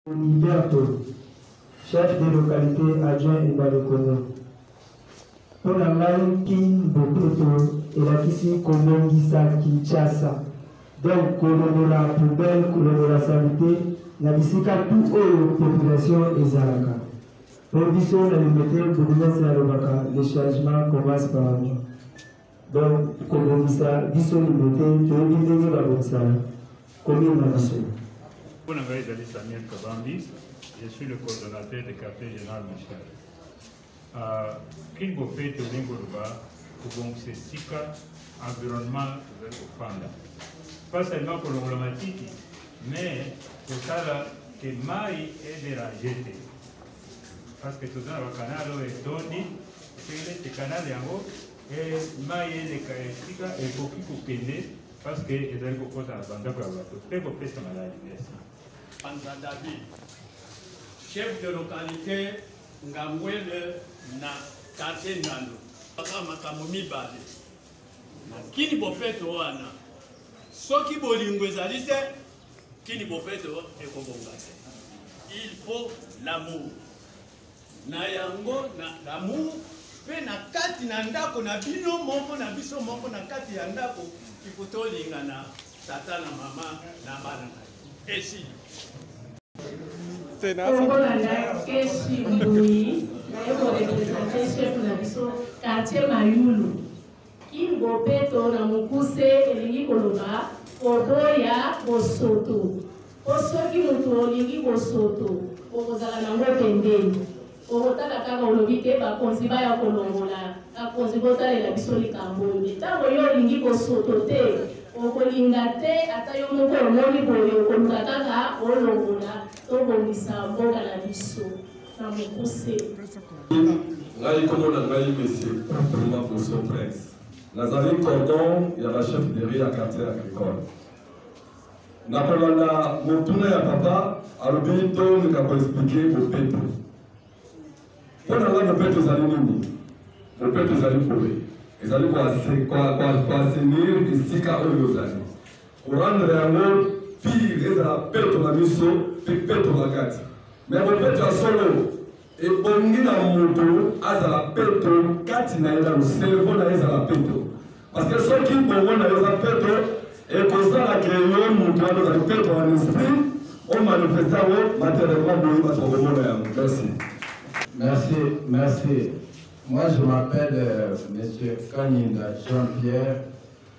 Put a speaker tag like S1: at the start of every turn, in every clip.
S1: Liberto, chef de localité adjoint Ibale Congo. Mpo na ngai kin bopeto elakisi kolongisa Kinshasa, donc kolongola poubelle, kolongola salite na bisika tu oyo population ezalaka. Mpo biso na limete bourgmestre alobaka le changement commence par nous. donc kobongisa biso libote toyebi ndenge babongisa commune na biso mpo na ngai ezali samuel kabambi
S2: je suis le coordonnateur de quartier général michel kin bope tolingi koloba kobongisa esika environnement tozali kofanda mpasi alima kolongola matiti mais kosala ke mai ederange te parce que toza na bakanale oyo etondi esengeli ete kanale yango eh, mai eleka esika ekoki kokende parce que ezali kokota na bandako ya bato mpe kopesa maladi merci panza
S3: david chef de localité ngangwele na quartier ndando aka makambo mibale na kini bofete wana soki bolingo ezali te kini bofeto ekobonga te il faut l'amour na yango na l'amour mpe na kati na ndako na bino moko na biso moko na kati ya ndako ifo tolingana tata na mama na bana na ye esi okolanda esi mbui
S4: naye korepresente chef na biso quartier mayulu Kin bopeto na mokuse elingi koloba koboya bosoto. Po soki moto olingi bosoto, okozala nango pembeni. Okotala kaka olobi te bakonzi baya kolongola, bakonzi botalela biso likambo oyo. Me ntango yo olingi bosoto te, okolinga te ata yo moko omoni boye, okoluka kaka olongola tobongisa mboka na biso. na mokuse
S5: ngai nkombo na ngai monsieur prima boso prince nazali cordon ya bachef de rue ya quartier agricole na kolanda motuna ya papa alobi toleka koexplike bopeto mpo na ngai bopeto ezali nini bopeto ezali boye ezali koasenir esika oyo ozali korendre yango pire ezala peto na miso mpe peto na kati me bopeto ya solo ebongi na moto azala peto kati na ye na cerveau na ye ezala peto parce que soki bongo na yo eza peto ekozala ke yo moto wana ozali peto en esprit omanifeste yango matériellement boyi bato bakomona yango merci merci merci
S6: moi je m'appelle euh, monsieur kanyinda jean pierre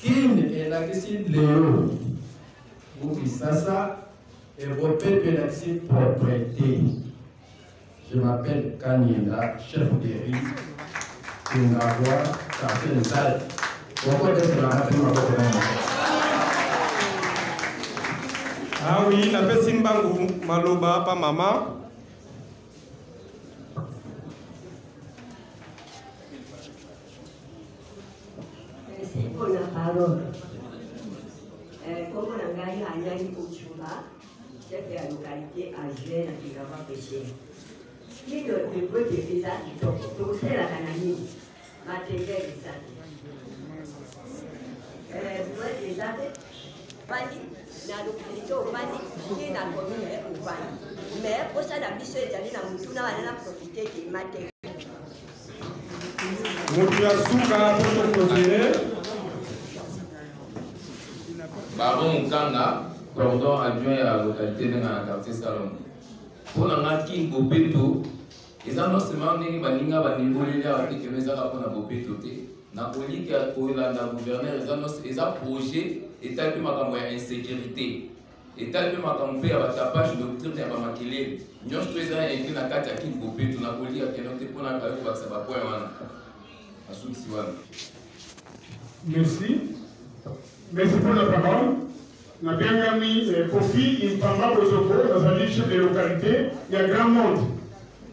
S6: Kin elakisi leo, Buki Sasa, et vos peuples elakisi propriété. Je m'appelle Kanyenda, chef de riz, Kingagwa, quartier Nzal. Pourquoi est-ce que la race m'a Ah
S7: oui, la paix Simbangu, Maloba, pas maman.
S8: Merci pour la parole. Euh, comme on a gagné à Yannick Ochumba, chef de la localité à Gênes, à Kigava Péché. Qui ne peut pas faire ça, qui tombe, tout c'est la canamie, ma télé, ça. Euh, moi, j'ai zappé, pas dit, na localité obandi ye na commune ya obandi mais mposa na biso ezali na motuna wana na profite te mate
S7: moto ya suka mpo tokodire
S9: baron mokanga cordon adjoint ya localité ndenge na quartier salon mpo na nga king bopeto eza non seulement ndenge baninga banimboleli awa te keno ezaka mpo na bopeto te na kolika kolanda gouverneur eza projet etali mpe makambo ya insécurité etali mpe makambo mpe ya batapage doctrine ya bamakelele nyonso to eza inclus na kati ya kingo mpe tonakolia keno te mpo na bayo kobakisa bapoint wana asukisi wana merci
S10: merci mpo na parole nabengami eh, kofi impamba bozoko nazali chef de localité ya grand monde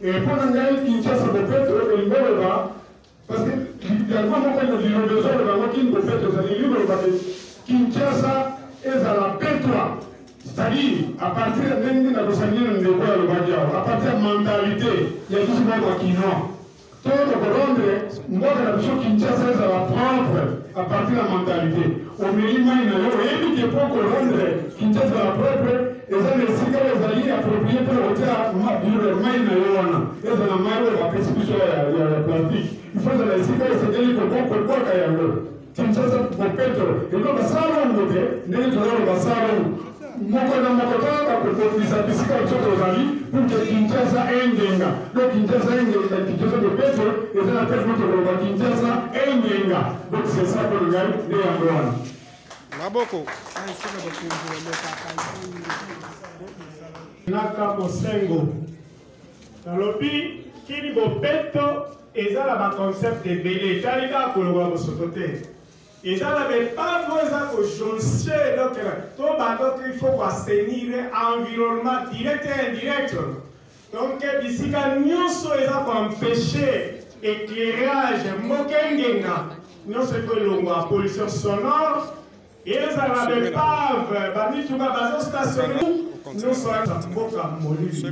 S10: mpo eh, na ngai kinshasa bopeto elingi oloba Parce que littéralement moko na liloba ezolo na maki ngopete ezali liloba ke Kinshasa ezala petwa c'est-à-dire à partir ya ndenge na kosangeli na ndeko ya lobaki awa à partir ya mentalité ya biso moko ya kinois to tokolondre mboka na biso Kinshasa ezala propre à partir ya mentalité omeli mai na yo oyebi ke mpo kolondre kinshasa na propre eza na esika oyo ezali aproprie mpo na kotia bilolo mai na yo wana ezala mai oyo bapesi biso ya plastike ifo ezala esika oyo esengeli kobwaka yango kinshasa bopeto eloko basalongo te ndenge tozaloba salongo moko na moko kaka kokokisa bisika biso tozali purke kinshasa engenga do kinshasa engenga kinshasa bopeto eza na pete moto koloba kinshasa engenga bokisesa poni ngai nde yango wana maboko
S1: naka mosengo nalobi kini bopeto eza na baconcept ebele etali kaka koloba bosoto te Eza na bepave oyo eza ko jonche donc to bando il faut ko assainir environnement direct et indirect donc bisika nyonso eza ko empêcher éclairage mokengenga nyonso eko elongwa pollution sonore ezala bepave bamituka bazostationne nyonso mboka molili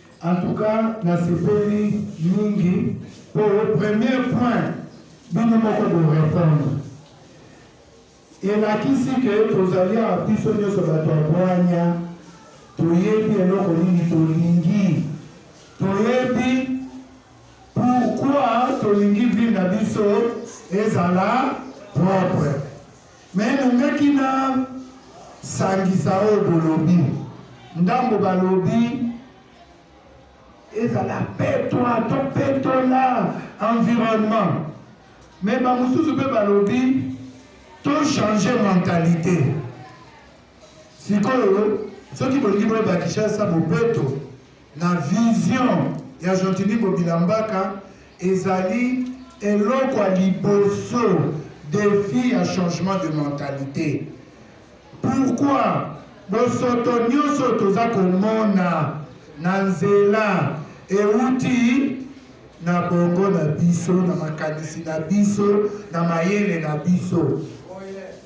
S1: En tout cas, nasepeli mingi mpo premier point bino moko borepondre elakisi ke tozali awa biso nyonso bato ya bwanya toyebi eloko nini tolingi toyebi pourkui tolingi vi na biso ezala propre me nangaki na sangisa oyo bolobi ndambo balobi ezala petwa to petola environnement me bamosusu mpe balobi to change mentalité sikoyo soki bolingi boyeba kinshasa bopeto Na vision ya Gentiny Ngobila Mbaka ezali eloko ya liboso defi ya changement de mentalité. Pourquoi bosoto nyonso toza komona na nzela euti na bongo na biso na makanisi na biso na mayele na biso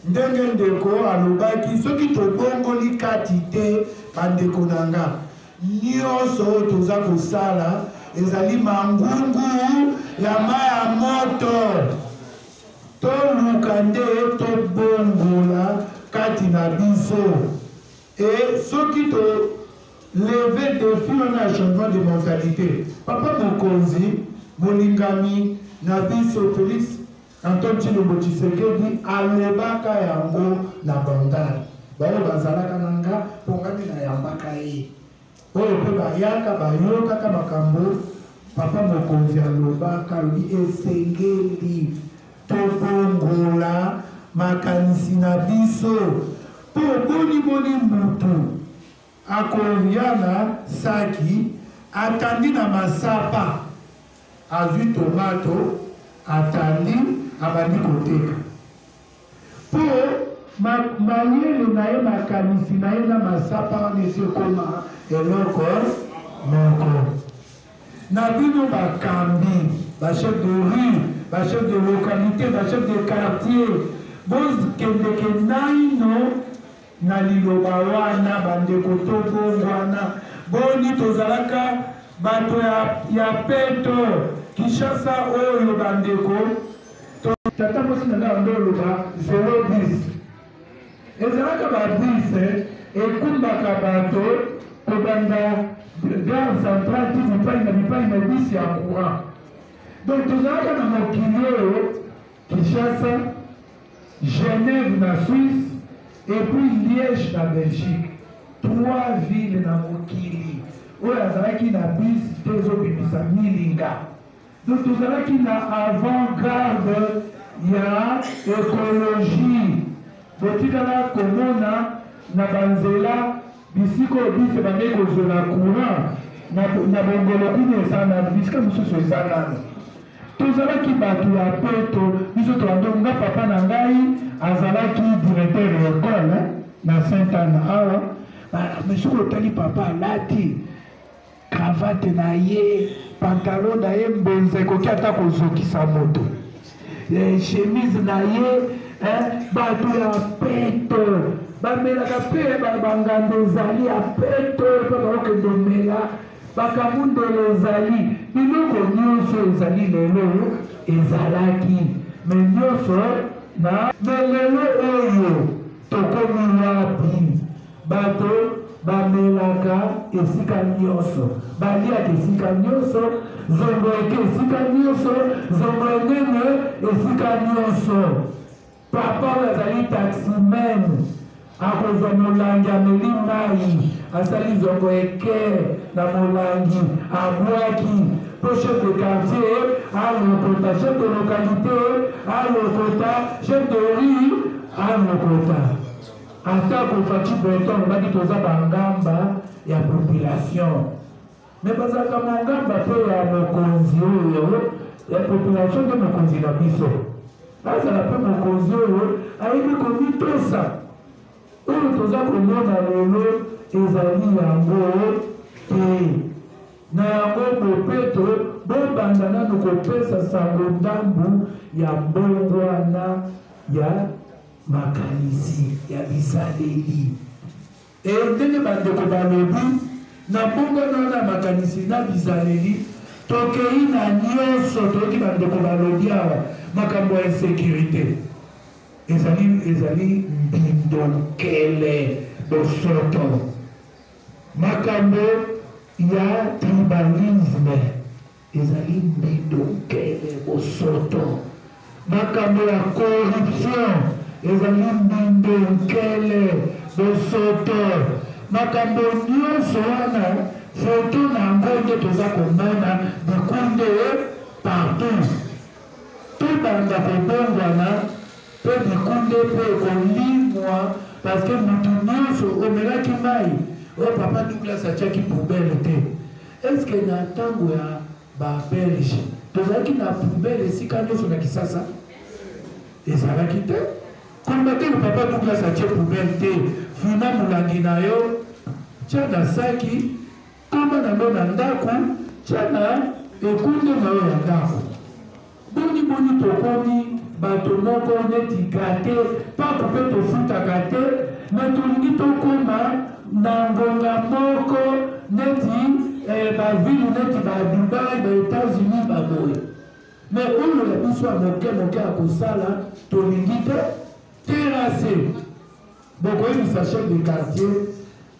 S1: ndenge ndeko alobaki soki tobongoli kati te bandeko na nga Nyonso oyo toza kosala ezali mangungu ya mai ya moto. Toluka nde tobongola kati na biso e soki to leve defi wana ya changement de mentalité papa mokonzi molingami na biso felix Antoine Tshilombo Tshisekedi alobaka yango na Bandal. Baoyo bazalaka na nga mpo nga nde nayambaka ye. Oyo mpe bayaka bayokaka makambo papa mokonzi alobaka alobi esengeli tobongola makanisi na biso mpo boniboni motu Akolia na saki, atandi na masapa, azwi tomato, atandi, abandi koteka. Mpo ma, mayele na ye, makanisi na ye na masapa wana esi ekoma eloko moko. Na bino bakambi, bachef de rue, bachef de localité, bachef de quartier, bokendeke naino Na liloba wana, bandeko, tobongwana. Boni, tozalaka bato ya, ya peto. Kinshasa oyo, bandeko, to... tata mosi na ngai ando oloba zero bis ezalaka babis ekumbaka bato kobanda gare central ti bipai na bipai na bisi ya courant donc tozalaka na mokili oyo Kinshasa, Genève na Suisse et puis Liège na Belgique. Trois villes na mokili oyo azalaki na bus te ezobimisa milinga. Donc tozalaki na avant-garde ya ekologie. Botikala komona na banzela bisika oyo bisi ebandaki kozwela courant na bongolo kuna eza nano bisika mosusu eza nano tozalaki bato ya peto biso tolando nga papa na ngai azalaki directeur ya ekole na saint anne awa ah, mais soki otali papa alati cravate na ye pantalon na ye mbenza ekoki ata kozokisa moto eh, chemise na ye eh, bato ya peto bamelaka mpe bangando ezali ya peto mpe bakokende omela bakamundelo ezali biloko nyonso ezali lelo ezalaki me nyonso na lelo oyo tokomi wapi bato bamelaka esika nyonso baliaka esika nyonso zongo eke esika nyonso zongo enene esika nyonso papa oyo azali taximen akozwa molangi ameli mai asali zongo eke na molangi abwaki mpo chef de quartier alokota chef de localité alokota chef de rue alokota Ata ko Fatshi Beton alobaki toza bangamba ya population me bazalaka mangamba mpe ya mokonzi oyo ya population nde mokonzi na biso azala mpe mokonzi oyo ayebi komipesa oyo toza komona lelo ezali yango te na yango bopeto bobanda nano kopesa sango ndambu ya mbongwana ya makanisi ya bisaleli eye ndenge bandeko balobi na mbongwana wana ya makanisi na bizaleli tokei na nyonso toyoki bandeko balobi awa makambo ya insécurité ezali ezali mbindo nkele bosoto makambo ya tribalisme ezali mbindo nkele bosoto makambo ya corruption ezali mbindo nkele bosoto makambo nyonso wana foto na yango nde toza komona bikunde partout tobanda kobongwana mpo bikunde mpo ekolimwa parceke motu nyonso omelaki mai oyo papa douglas atiaki poubele te Est ce que na tango ya ba belge tozalaki na poubelle esika nyonso na kisasa ezalaki te combatele papa douglas atie poubelle te fina molangi na yo tya na saki koma nango na ndako tya na ekunde na yo ya ndako Boni boni tokomi bato moko neti gate paku mpe tofutaka te me tolingi tokoma na ngonga moko neti eh, bavile neti ba dubai ba états-unis baboye me oyo ya biso ya moke moke ya kosala tolingi te terase bokoyebisa chef de quartier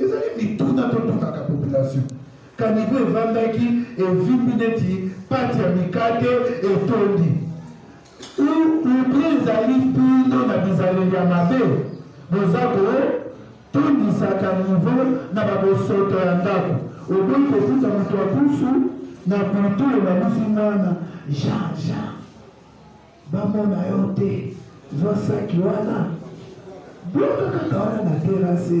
S1: ezali mituna totunaka population kanivo evandaki evimbi neti pati ya mikate etondi ubie ezali bino na bizaleli ya mabe boza kotondisaka nivo na babosoto ya ndako oboyi kofuta moto ya kusu na butu olabisi mwana jean jean bamona yo te zwa saki wana bokakaka wana na terase